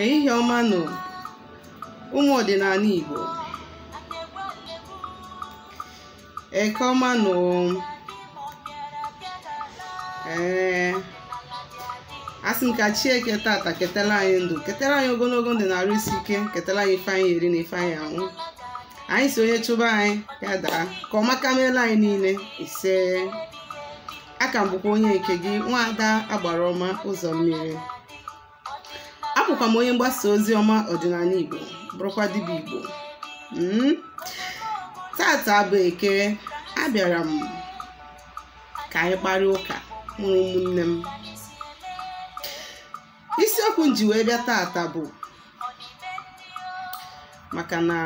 ehihie ọma nụ ụmụ ọdịnala Igbo eke ọma nụ ee asị m ka chi eke tata ketara anyị ndụ ketara anyị ogologo ndụ na arụ isi ike ketara anyị ife anyị eri na ife anyị anwụ anyị si onye chụba anyị ya daa ka ọ maka meela anyị niile ise aka m bụkwa onye nke gị nwaada agbara ọma ụzọ mmiri abụkwa m onye mgbasa ozi ọma ọdịnala igbo bụrụkwa dibịa igbo Mm. tata bụ eke abịara m ka anyị kparịa ụka nụ ụmụnne m isiokwu m ji wee bịa tata bụ maka na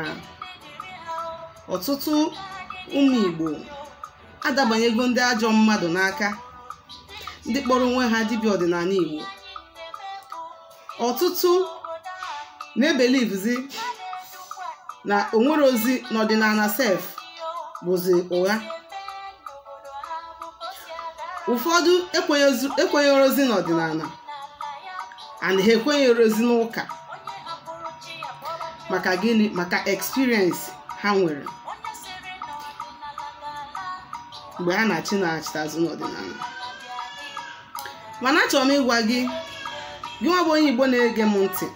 ọtụtụ ụmụ Igbo adabanyego ndị ajọ mmadụ n'aka ndị kpọrọ onwe ha dibịa ọdịnala Igbo ọtụtụ na-ebelivzi na onwerozi n'ọdịnala sef bụzi ụgha ụfọdụ ekwenyerozi n'ọdịnala and ha ekwenyerozi n'ụka maka gịnị maka experience ha nwere mgbe ha na-achị na-achịta azụ n'ọdịnala mana achọrọ m ịgwa gị gị nwa bụ onye igbo na-ege m ntị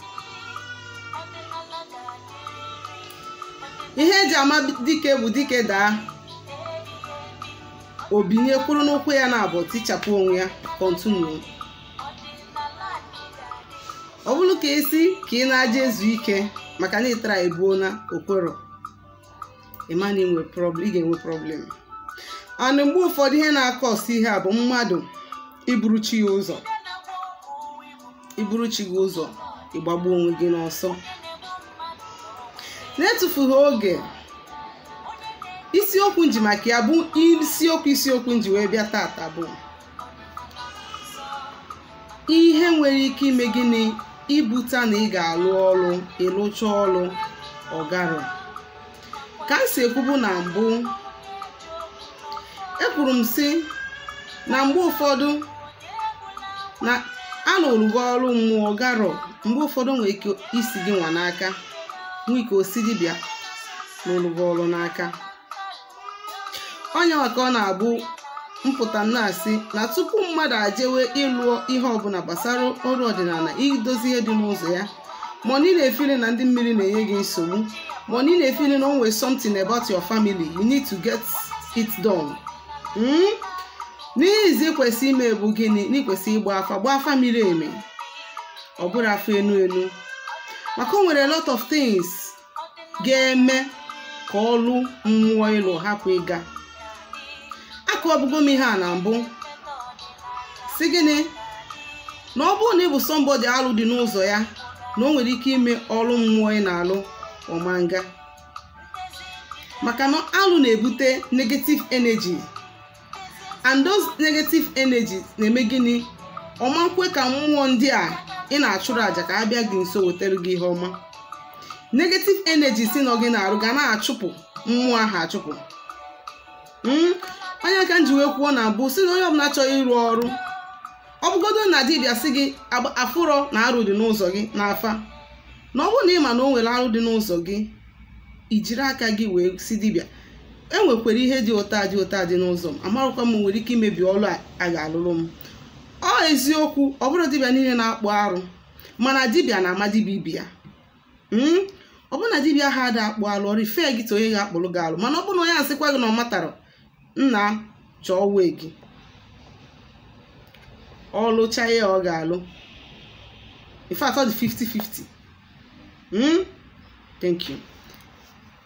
ihe eji ama dike bụ dike daa obinye kwụrụ n'ụkwụ ya naabọ tichapụ onwe ya kọntinuo ọ bụrọ ka ị sị ka ị na-aje ezu ike maka na ịtara ebuo na okwero ị ma na ị ga-enwe problem and mgbe ụfọdụ ihe na-akọsị ihe a bụ mmadụ iburu chi ya ụzọ iburu chi gị ụzọ ịgbagbu onwe gị n'ọsọ na-etufughị oge isiokwu nji maka ya bụ isiokwu isiokwu nji wee bịa tata bụ ihe nwere ike ime gịnị ibute na ị ga-alụ ọrụ ịlụcha ọrụ ọgarọ ka m si ekwubu na mbụ ekwuru m si na mgbe ụfọdụ na alụrụ gị ọrụ mmụọ ọgarọ mgbe ụfọdụ nwere ike isi gị nwa n'aka nwee ike osi dibịa na-alụrụ gị ọrụ n'aka ọ nya maka ọ na-abụ m pụta na-asị na tupu mmadụ ajewe ịlụ ihe ọbụla gbasara ọrụ ọdịnala idozi ihe dị n'ụzọ ya ma ọ na ị na-efili na ndị mmiri na-enye gị nsogbu ma ọ na ị na-efili na o nwere something about your family you need to get it done Mm? n'izi kwesị ime bụ gịnị na i kwesị ịgba afa gbaa afa miri emi ọ bụrọ afa enu enu maka o nwere a lot of things ga-eme ka ọlụ mmụọ ị lụ hapụ ịga akọbugo m ihe a na mbụ sị gịnị na ọ bụrụ na ị bụ somebody alụ dị n'ụzọ ya na o nwere ike ime ọrụ mmụọ ị na-alụ ọ ma nga maka na alụ na-ebute negative energy and those negative energies na-eme gịnị ọ ma nkwe ka mmụọ ndị a ị na-achụrụ àjà ka a bịa gị nso wetara gị ihe ọma negative energy si nọ gị n'arụ ga na-achụpụ mmụọ ahụ achụpụ hmm? ọ nya ka m ji wee kwuo na mbụ sị na onye ọbụla chọrọ ịrụ ọrụ ọ bụgodo na dibịa sị gị afụrọ na arụ dị n'ụzọ gị n'afa na ọ bụrụ na ị ma na o nwere arụ dị n'ụzọ gị i jiri aka gị wee sị dibịa enwekwara ihe dị otu a dị otu a dị n'ụzọ m amarọkwa ma o nwere ike imebi ọrụ a a ga-alụrụ m ọ eziokwu ọ bụrọ dibịa niile na-akpụ arụ mana dibịa na-ama dibịa ibe ya Mm? ọ bụrụ na dibịa ahụ ada akpụ alụ ọ refer gị to onye ga-akpụrụ gị alụ mana ọ bụrụ na onye asịkwa gị na ọ matara nna chọọ wee gị ọ lụcha ya ọ ga-alụ in fact ọ dị 50-50 hmm? thank you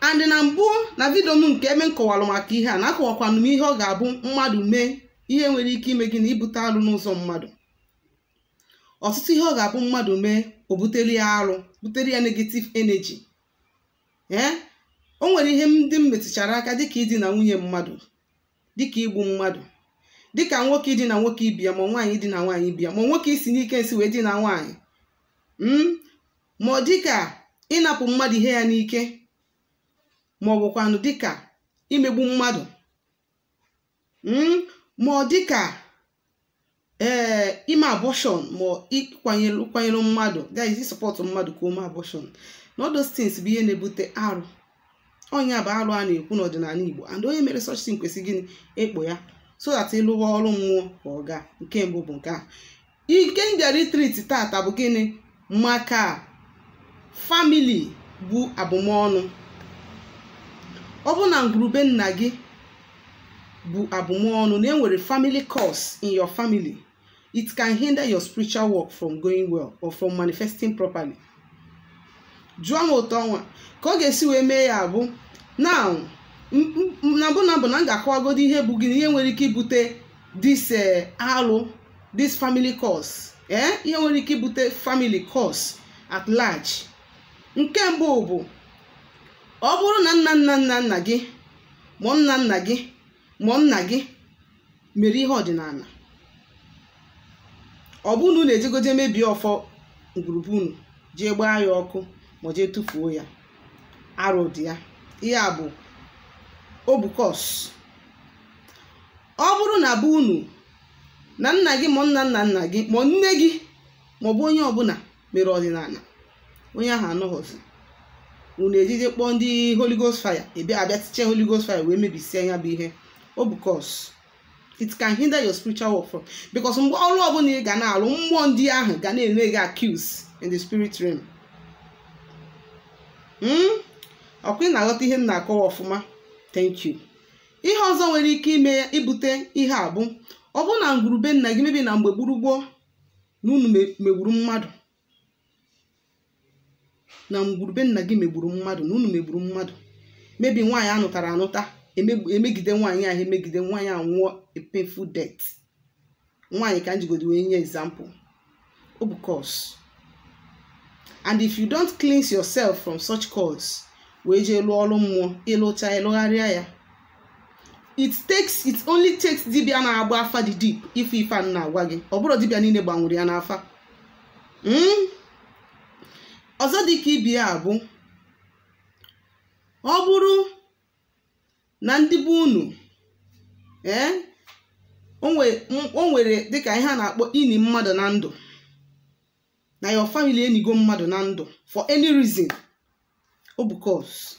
and na mbụ na vidio m nke ebe m kọwara maka ihe a na akọwakwanụ m ihe ọ ga-abụ mmadụ mee ihe nwere ike ime gịnị ibute alụ n'ụzọ mmadụ ọtụtụ ihe ọ ga-abụ mmadụ mee o butere ya arụ butere ya negative energy ee o nwere ihe ndị m metụchara aka dịka idina nwunye mmadụ dịka igbu mmadụ dịka nwoke idina nwoke ibe ya ma nwaanyị idina nwaanyị ibe ya ma nwoke isi n'ike nsị wee dina nwaanyị ma ọ dịka ịnapụ mmadụ ihe ya n'ike ma ọ bụkwanụ dịka imegbu mmadụ hmm? ma ọ dịka ee eh, ime abortion ma ịkwanyere mmadụ that is ịsọpọtụ mmadụ ka o mee abortion na all those things bụ ihe na-ebute arụ ọ nya bụ arụ a na-ekwu n'ọdịnala Igbo and onye mere such thing kwesịrị gịnị ịkpụ ya so that ị lụwa ọrụ mmụọ ka ọ gaa nke mbụ bụ nke a nke m bịara itriti tata bụ gịnị maka family bu abụmọnụ ọ bụ na ngwuru be nna gị bu abụmọnụ na enwere family curse in your family it can hinder your spiritual work from going well or from manifesting properly jụọ m etu ọnwa ka ọ ga-esi wee mee ya bụ na na mbụ na mbụ na m ga-akọwagodi ihe bụ gịnị ihe nwere ike ibute this alụ this family curse ee ihe nwere ike ibute family curse at large nke mbụ bụ ọ bụrụ na nna nna nna nna gị ma nna nna gị ma nna gị mere ihe ọdịnala ọ bụrụ na unu ejego jee mebie ọfọ ngwuru be unu jee gbaa ya ọkụ ma jee tụfuo ya arụ dị ya ihe a bụ ọ bụ curse ọ bụrụ na be unu na nna gị ma nna nna nna gị ma nne gị maọbụ onye ọbụla mere ọdịnala onye ahụ anọghọzi unu ejee jee kpọọ ndị holy ghost fire ebe abịa tiche holy ghost fire wee mebisie ya bụ ihe ọ bụ curse it can hinder your spiritual work from because mgbe ọrụ ọbụla ị ga na-alụ mmụọ ndị ahụ ga na-eme gị accuse in the spirit realm ọkwa ị na-aghọta ihe m na-akọwa ọfụma thank you ihe ọzọ nwere ike ime ya ibute ihe a bụ ọ bụ na ngwuru be nna gị maybe na mgbe gboo gboo na unu megburu mmadụ na ngwuru be nna gị megburu mmadụ na unu megburu mmadụ maybe nwaanyị a nụtara anụta emegide nwaanyị ahụ emegide nwaanyị anwụọ a painful death nwaanyị ka m jigodi wee nye example ọ bụ curse and if you don't cleanse yourself from such curse wee jee lụọ ọrụ mmụọ ị lụcha ị lụgharịa ya it takes it only takes dibia na-agba afa dị deep ịfụ ife m na-agwa gị ọ bụrọ dibia niile gbanwere ya n'afa ọzọ dị ka ibe ya bụ ọ bụrụ na ndị be unu ee o nwere dịka ihe a na-akpọ ini mmadụ na ndụ na your family enigo mmadụ na ndụ for any reason ọ bụ curse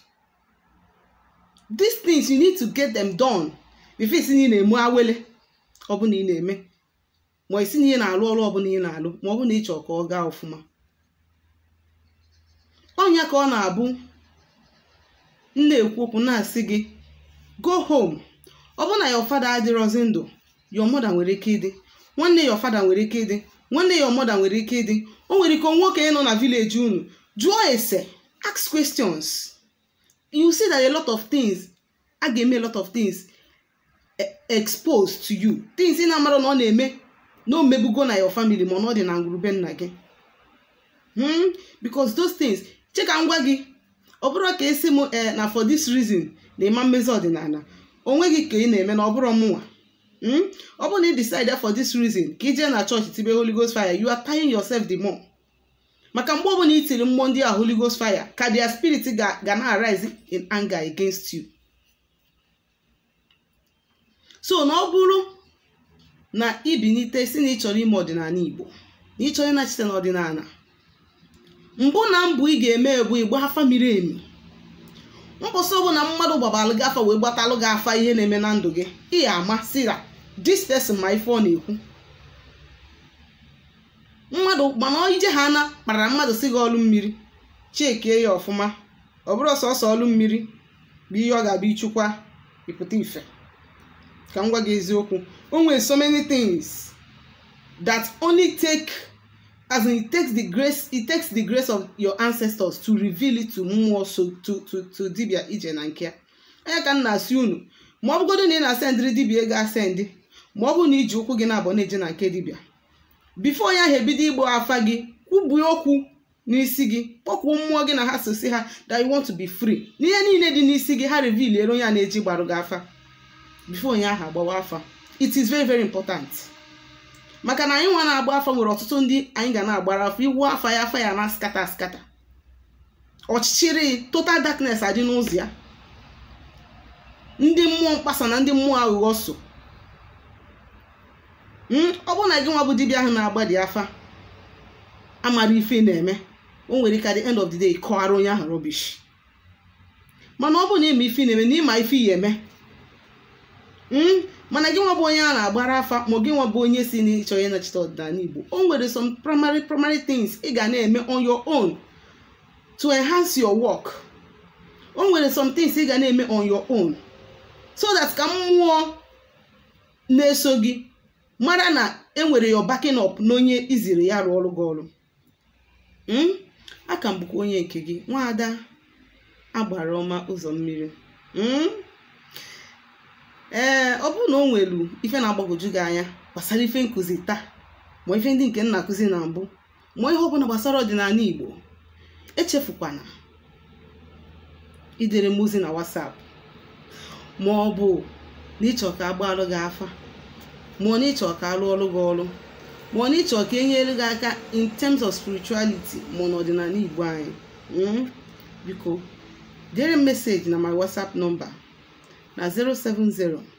these things you need to get them done before ị sị na ị na-eme awele ọbụla ị na-eme ma ị sị na ị na-alụ ọrụ ọbụla ị na-alụ ma ọ bụ na ị chọrọ ka ọ gaa ọfụma ọ nya ka ọ na-abụ m na-ekwu okwu na-asị gị go home ọ bụ na your father adịrọzi ndụ your mother nwere ike ịdị nwanne your father nwere ike ịdị nwanne your mother nwere ike ịdị o nwere ike e nwee okenye nọ na village unu jụọ ese ask questions you see that a lot of things a ga-eme a lot of things e- exposed to you things ị na-amara na ọ na-eme na o mebugo na your family ma ọ na ọ dị na ngwuru be nna gị hmm? because those things che ka m gwa gị ọ bụrụ ka ị sị m ee eh, na for this reason na ị ma mezi ọdịnala onwe gị ka ị na-eme na ọ bụrọ mụnwa hmm? ọ bụrụ na ị decide for this reason ka ị je na chọọchị tibe Holy Ghost fire you are tying yourself the more maka mgbe ọbụla i tiri mmụọ ndị a Holy Ghost fire ka their spirit ga na-arise in anger against you so na ọ bụrụ na i binite sị na ị chọrọ ime ọdịnala igbo na ị chọrọ ịnachite n'ọdịnala mbụ na mbụ ị ga-eme bụ ịgba afa miri emi mbọsị ọbụla mmadụ gbabalụ gị afa wee gbatalụ gị afa ihe na-eme na ndụ gị ị ya ama sị na this person ma ife ọ na-ekwu mmadụ mana ị je ha na kpara mmadụ sị gị ọlụ mmiri checkie ya ọfụma ọ bụrọ sọsọ ọlụ mmiri bụ ihe ọ ga-abụ ị chọkwa ịpụta ife ka m gwa gị eziokwu o nwere so many things that only take as in it takes the grace it takes the grace of your ancestors to reveal it to mmụọ so to to to dibia ị je na nke ya ọ ya ka m na-asị unu ma ọ bụgodo na ị na-asendịrị dibia ego asendị ma ọ bụ na i ji ụkwụ gị na-abụ na-eje na nke dibia before ya ha ebido ịgba afa gị kwubuo okwu n'isi gị kpọkwuo mmụọ gị na ha so sị ha that you want to be free na ihe niile dị n'isi gị ha revealiere onye a na-eje ịgbarụ gị afa before onye ahụ agbawa afa it is very very important maka na anyị nwa na-agba afa nwere ọtụtụ ndị anyị ga na-agbara afa ị wụ afa ya afa ya na-scatter scatter ọchịchịrị total darkness adị n'ụzọ ya ndị mmụọ mkpasa na ndị mmụọ aghụghọ so hmm, ọ bụrụ na gị nwa bụ dibịa ahụ na-agbadị afa amarọ ife na-eme o nwere ike at the end of the day kọwara onye ahụ rubbish mana ọ bụrụ na ị ma ife na-eme na ị ma ife ị ya eme hmm, mana gị nwa bụ onye a na-agbara afa ma gị nwa bụ onye sị na ị chọ ịnachite ọdịnala Igbo o nwere some primary primary things ị ga na-eme on your own to enhance your work o nwere some things ị ga na-eme on your own so that ka mmụọ na-eso gị mara na e nwere your backing up n'onye i ziri ya rụọrụ gị ọrụ Mm? a ka m bụkwa onye nke gị nwaada agbara ọma ụzọ mmiri Mm? ee ọ bụrụ na o nwelu ife na-agbagwoju gị anya gbasara ife nkụzi taa ma ife ndị nke m na-akụzi na mbụ ma ihe ọbụla gbasara ọdịnala igbo echefukwana idere m ozi na WhatsApp ma ọ bụ na ị chọ ka a gbaalụ gị afa ma ọ na ị chọ ka a lụọlụ gị ọlụ ma ọ na ị chọ ka e nyere gị aka in terms of spirituality ma ọ n'ọdịnala igbo anyị mm? biko dere m message na my WhatsApp number na 070